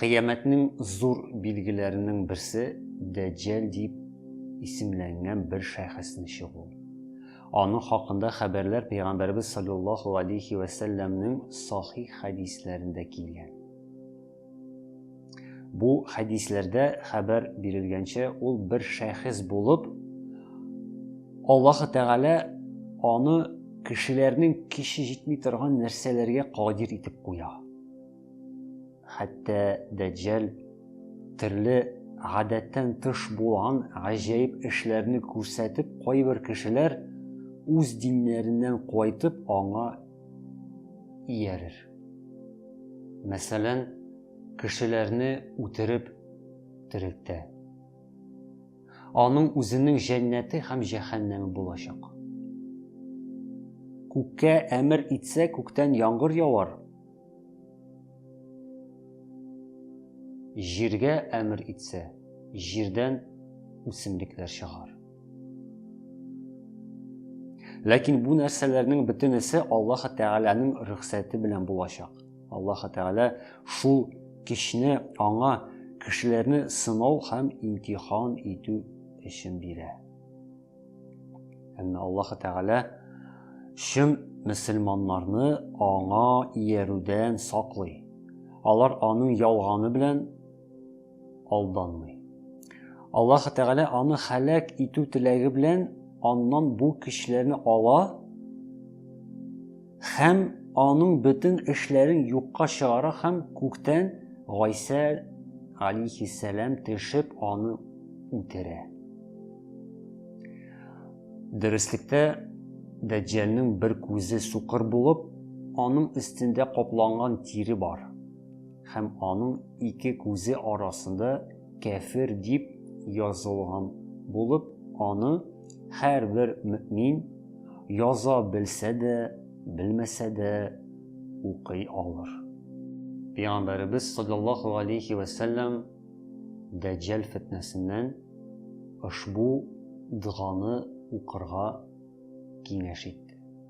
Кыямәтнең зур билгеләренең берсе Дәҗҗәл дип исемләнгән бер шәхесне чыгу. Аның хакында хәбәрләр пәйгамбәрбез саллаллаһу алейхи ва сәлләмнең сахих хәдисләрендә килгән. Бу хәдисләрдә хәбәр бирелгәнчә, ул бер шәхес булып, Аллаһ Тәгалә аны кешеләрнең көче җитми торган нәрсәләргә кадир итеп куя. Хәтта Дәҗҗәл төрле гадәттән тыш булган гаҗәеп эшләрне күрсәтеп, кайбер кешеләр үз диннәреннән кайтып аңа иярер. Мәсәлән, кешеләрне үтереп терелтә. Аның үзенең җәннәте һәм җәһәннәме булачак. Күккә әмер итсә, күктән яңгыр явар. Җиргә әмер итсә, җирдән үсемлекләр чыгар. Ләкин бу нәрсәләрнең бөтенесе Аллаһ Тәгаләнең рөхсәте белән булачак. Аллаһы Тәгалә шул көчне аңа кешеләрне сынау һәм имтихан итү өчен бирә. Әмма Аллаһы Тәгалә чын мөселманнарны аңа иярүдән саклый. Алар аның ялганы белән алданмый. Аллаһ Тәгалә аны халәк итү теләге белән аннан бу көчләрне ала һәм аның бөтен эшләрен юкка чыгара һәм күктән Гайсә алейхиссәлам төшеп аны үтерә. Дөреслекте Дәҗҗәлнең бер күзе сукыр булып, аның өстендә капланган тире бар. Һәм аның ике күзе арасында кәфер дип язылган булып, аны һәрбер мөэмин, яза белсә дә, белмәсә дә, укый алыр. Пәйгамбәребез саллаллаһу галәйһи вә сәлләм дәҗҗәл фетнәсеннән ошбу доганы укырга киңәш итте.